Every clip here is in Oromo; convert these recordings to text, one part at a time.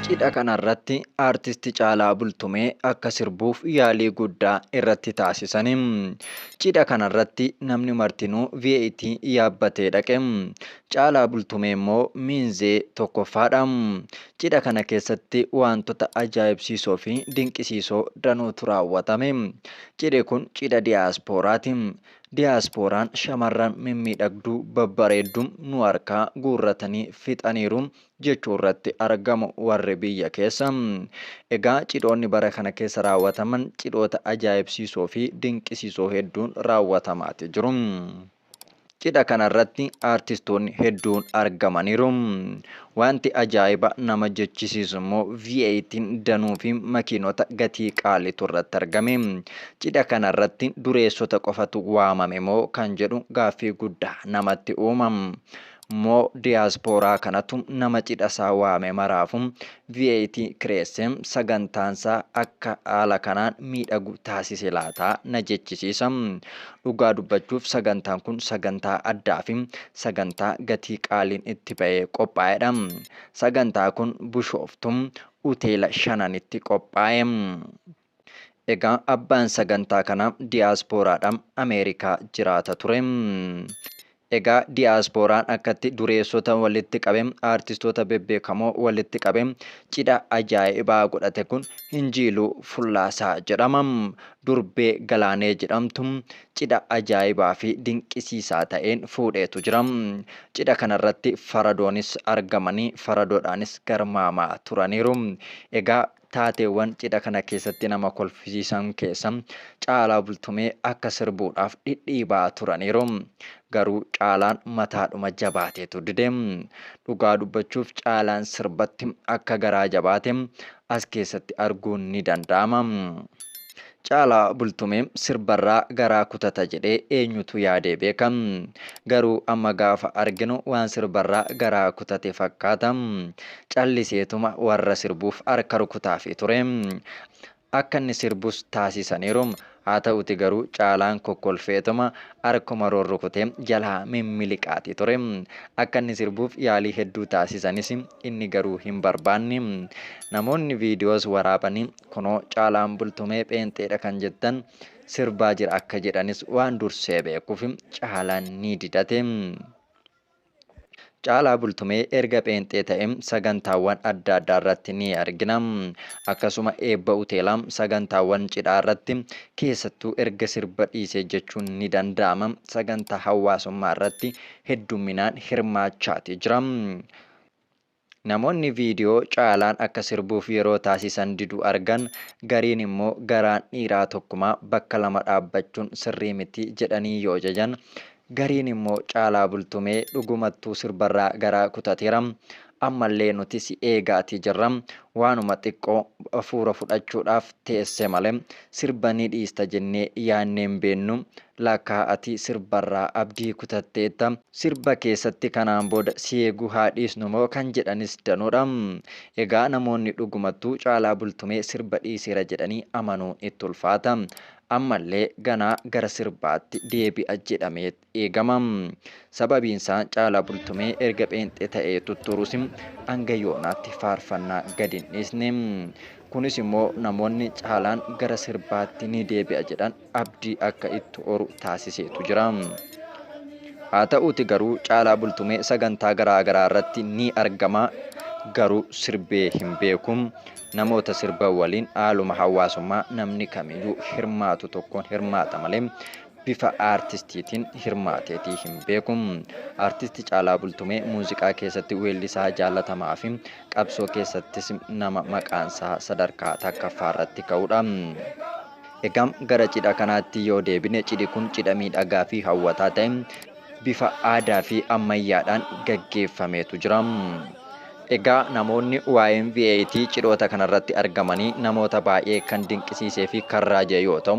Cidha kanarratti Aartisti Caalaa Bultumee akka sirbuuf yaalii guddaa irratti taasisani. Cidha kanarratti namni martinuu VAT yaabbatee dhaqe. Caalaa Bultumee immoo miinzee tokkoffaadha. Cidha kana keessatti waantota ajaa'ibsiisoo fi dinqisiisoo danuutu raawwatame. Cidhi kun cidha diyaaspooraati. Diyaaspooraan shamarran mimmiidhagduu babbareeddu nu harkaa guurratanii fixaniiru jechuu irratti argamu warri biyya keessa. Egaa cidhoonni bara kana keessa raawwataman cidhoota ajaa'ibsiisoo fi dinqisiisoo hedduun raawwatamaati jiru. Cidha kanarratti aartistoonni hedduun argamaniiru. Wanti ajaa'iba nama jechisiisu immoo V8n danuu fi makiinota gatii qaaliitu irratti argame. Cidha kanarratti dureessota qofatu waamame moo kan jedhu gaaffii guddaa namatti uuma. Moo diyaaspooraa kanatu nama cidhasaa waame maraafu VAT kireesse? Sagantaansaa akka haala kanaan miidhagu taasise laata? na jechisiisa. Dhugaa dubbachuuf sagantaan kun sagantaa addaafi sagantaa gatii qaaliin itti ba'ee qophaa'edha. Sagantaa kun Bushooftu Uteela Shananitti qophaa'e. Egaa abbaan sagantaa kanaa diyaaspooraadha. Ameerikaa jiraata ture. Egaa diyaaspooraan akkatti dureessota walitti qabe, aartistoota bebbeekamoo walitti qabe, cidha ajaa'ibaa godhate kun Hinjiiluu Fullaasaa jedhama. Durbee Galaanee jedhamtu cidha ajaa'ibaa fi dinqisiisaa ta'een fuudheetu jira. Cidha kanarratti faradoonis argamanii faradoodhaanis garmaamaa turaniiru. Egaa Taateewwan cidha kana keessatti nama kolfisiisan keessa Caalaa Bultumee akka sirbuudhaaf dhidhiibaa turaniiru. Garuu Caalaan mataadhuma jabaateetu dide. Dhugaa dubbachuuf Caalaan sirbatti akka garaa jabaate as keessatti arguun ni danda'ama. Caalaa Bultumee sirbarraa garaa kutata jedhee eenyutu yaadee beeka? Garuu amma gaafa arginu waan sirbarraa garaa kutate fakkaata. Calliseetuma warra sirbuuf harka rukutaafii ture. Akka inni sirbus taasisaniiru. Haa ta'uuti garuu Caalaan kokkolfeetuma harkuma rurrukutee jalaa mimmiliqaatii ture. Akka inni sirbuuf yaalii hedduu taasisanis inni garuu hin barbaanne. Namoonni viidiyoos waraabanii Kunoo Caalaan Bultumee pheenxeedha kan jettan sirbaa jira akka jedhanis waan dursee beekuuf Caalaan ni didate. Caalaa Bultumee erga pheenxee ta'e sagantaawwan adda addaa irratti ni argina. Akkasuma eebba uteelaa, sagantaawwan cidhaa irratti keessattuu erga sirba dhiisee jechuun ni danda'ama sagantaa hawaasummaa irratti heddumminaan hirmaachaati jira. Namoonni viidiyoo Caalaan akka sirbuuf yeroo taasisan didu argan gariin immoo garaan dhiiraa tokkumaa bakka lama dhaabbachuun sirrii miti jedhanii yoo jajan, gariin immoo Caalaa Bultumee dhugumattuu sirbarraa garaa kutateera, ammallee nuti si eegaatii jirra, waanuma xiqqoo afuura fudhachuudhaaf teesse malee sirba ni dhiista jennee yaannee hin beeknu Laakkaa ati sirbarraa abdii kutatteetta. Sirba keessatti kanaan booda si eeguu haa dhiisnu moo kan jedhanis danuudha. Egaa namoonni dhugumattuu Caalaa Bultumee sirba dhiiseera jedhanii amanuun itti ulfaata. Ammallee ganaa gara sirbaatti deebi'a jedhameet eegama. Sababiinsaa Caalaa Bultumee erga pheenxee ta'ee tutturus hanga yoonaatti faarfannaa gad hin dhiisne. Kunis immoo namoonni Caalaan gara sirbaatti ni deebi'a jedhan abdii akka itti horu taasiseetu jira. Haata'uuti garuu Caalaa Bultumee sagantaa garaa garaa irratti ni argama garuu sirbee hin beeku. Namoota sirban waliin haaluma hawaasummaa namni kamiyyuu hirmaatu tokkoon hirmaata malee bifa aartistiitiin hirmaateetii hin beeku. Aartisti Caalaa Bultumee muuziqaa keessatti weellisaa jaallatamaa fi qabsoo keessattis nama maqaansaa sadarkaa takkaffaarratti ka'udha. Egaa gara cidha kanaatti yoo deebine cidhi kun cidha miidhagaa fi hawwataa ta'e bifa aadaa fi ammayyaadhaan gaggeeffameetu jira. Egaa namoonni YMVAT cidhoota kanarratti argamanii namoota baay'ee kan dinqisiisee fi kan raaje yoo ta'u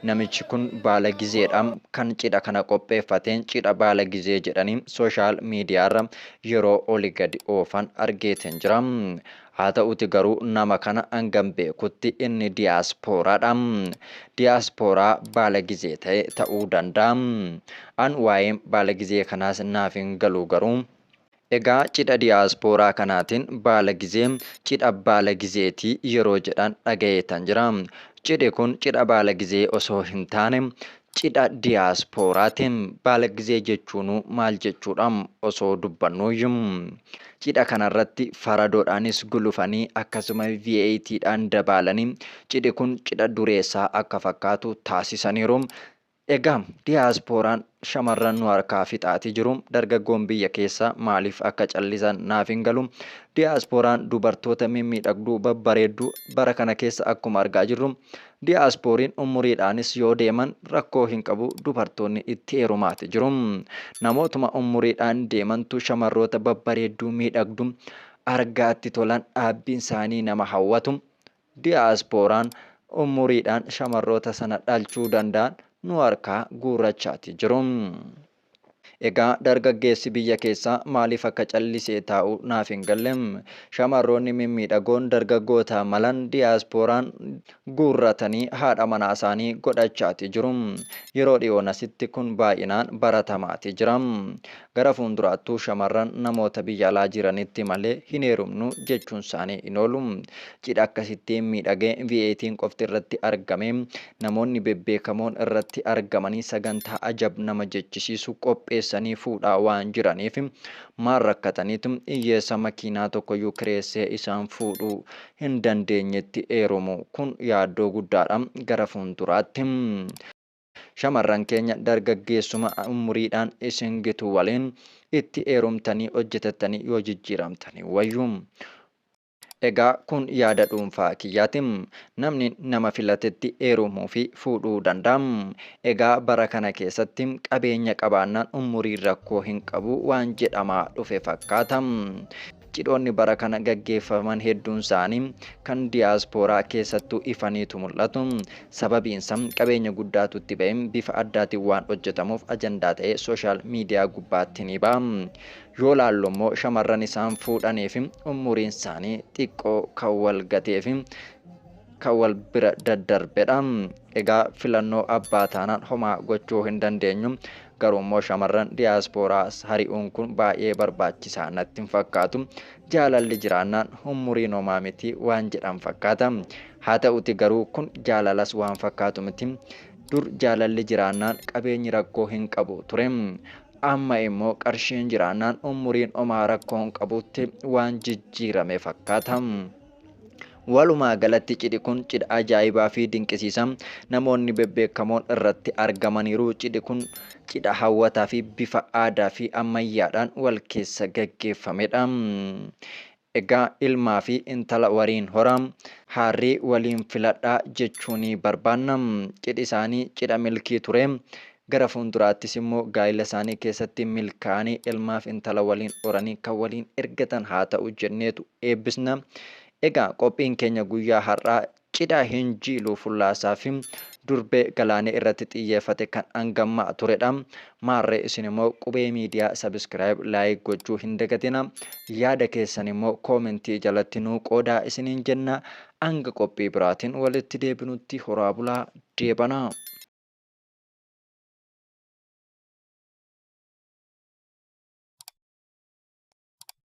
namichi kun baala gizeedha kan cidha kana qopheeffateen cidha baala gizee jedhanii sooshaal miidiyaarra yeroo oli gadi oofan argeeteen jira. Haa ta'uti garuu nama kana hangan beekutti inni diyaaspooraadha. Diyaaspooraa baalagizee ta'e ta'uu danda'a. An waa'een baalagizee kanaas naaf hin galu garuu. Egaa cidha diyaaspooraa kanaatiin baalagizee cidha baalagizeeti yeroo jedhan dhaga'eetan jira. Cidhi kun cidha baalagizee osoo hin taane Cidha diyaaspooraati. Baalaggizee jechuunuu maal jechuudha? Osoo dubbannuuyyu. Cidha kanarratti faradoodhaanis gulufanii akkasuma VAT dhaan dabaalanii cidhi kun cidha dureessaa akka fakkaatu taasisaniiru. Egaa diyaaspooraan shamarran nu harkaa fixaati jiru. Dargaggoon biyya keessaa maaliif akka callisan naaf hin galu. Diyaaspooraan dubartoota mimmiidhagduu babbareedduu bara kana keessa akkuma argaa jirru Diyaaspooriin ummuriidhaanis yoo deeman rakkoo hin qabu dubartoonni itti heerumaati jiru. Namootuma ummuriidhaan deemantu shamarroota babbareedduu miidhagdu argaatti tolan dhaabbiin saanii nama hawwatu. Diyaaspooraan ummuriidhaan shamarroota sana dhalchuu danda'an nu harkaa guurrachaati jiru. Egaa dargaggeessi biyya keessaa maaliif akka callisee taa'u naaf hin galle. Shamarroonni mimmiidhagoon dargaggoota malan diyaaspooraan guurratanii haadha manaasaanii godhachaati jiru. Yeroo dhiyoon asitti kun baay'inaan baratamaati jira. Gara fuulduraattuu shamarran namoota biyya alaa jiranitti malee hin heerumnu jechuunsaanii hin oolu. Cidha akkasittiin miidhagee VAT'n qofti irratti argamee namoonni bebbeekamoon irratti argamanii sagantaa ajab nama jechisiisu qopheessanii fuudhaa waan jiraniif maal rakkataniitu iyyeessa makiinaa tokkoyyuu kireessee isaan fuudhuu hin dandeenyetti eerumu kun yaaddoo guddaadha gara fuulduraatti shamarran keenya dargaggeessuma umuriidhaan isin gitu waliin itti eerumtanii hojjetattanii yoo jijjiiramtanii wayyu. Egaa kun yaada dhuunfaa kiyyaati. Namni nama filatetti heerumuufi fuudhuu danda'a. Egaa bara kana keessatti qabeenya qabaannaan ummuriin rakkoo hin qabu waan jedhamaa dhufe fakkaata. Cidhoonni bara kana gaggeeffaman hedduunsaanii kan diyaaspooraa keessattuu ifaniitu mul'atu. Sababiinsaa qabeenya guddaatu itti ba'e. Bifa addaatiin waan hojjetamuuf ajandaa ta'ee sooshaal miidiyaa gubbaatti ni ba'a. Yoo laallu immoo shamarran isaan fuudhanii fi umuriin isaanii xiqqoo kan wal gatee fi kan wal bira daddarbedha. Egaa filannoo abbaa taanaan homaa gochuu hin dandeenyu. Garuu immoo shamarran diyaaspooraa hari'uun kun baay'ee barbaachisaa natti hin fakkaatu. Jaalalli jiraannaan umuriin homaa miti waan jedhan fakkaata. Haa ta'uti garuu kun jaalalas waan fakkaatu miti. Dur jaalalli jiraannaan qabeenyi rakkoo hin qabu ture. Amma immoo qarshiin jiraannaan umuriin omaa rakkoo hin qabutti waan jijjiirame fakkaata. Walumaa galatti cidhi kun cidha ajaa'ibaa fi dinqisiisa namoonni bebbeekamoon irratti argamaniiru. Cidhi kun cidha hawwataa fi bifa aadaa fi ammayyaadhaan wal keessa gaggeeffamedha. Egaa ilmaa fi intala waliin horaa, haarrii waliin filadhaa jechuu ni barbaanna. Cidhi isaanii cidha milkii ture. Gara fuulduraattis immoo gaa'ila isaanii keessatti milkaa'anii ilmaa fi intala waliin horanii kan waliin ergatan haa ta'u jenneetu eebbisna. Egaa qophiin keenya guyyaa har'aa Cidha hin jiiluu fullaasaa fi durbee galaanee irratti xiyyeefate kan angammaa turedha. Maarree isin immoo qubee miidiyaa subscribe like gochuu hin dagatina. Yaada keessan immoo koomentii jalatti nuu qoodaa isiniin jenna. Anga qophii biraatiin walitti deebinutti horaa bulaa deebanaa.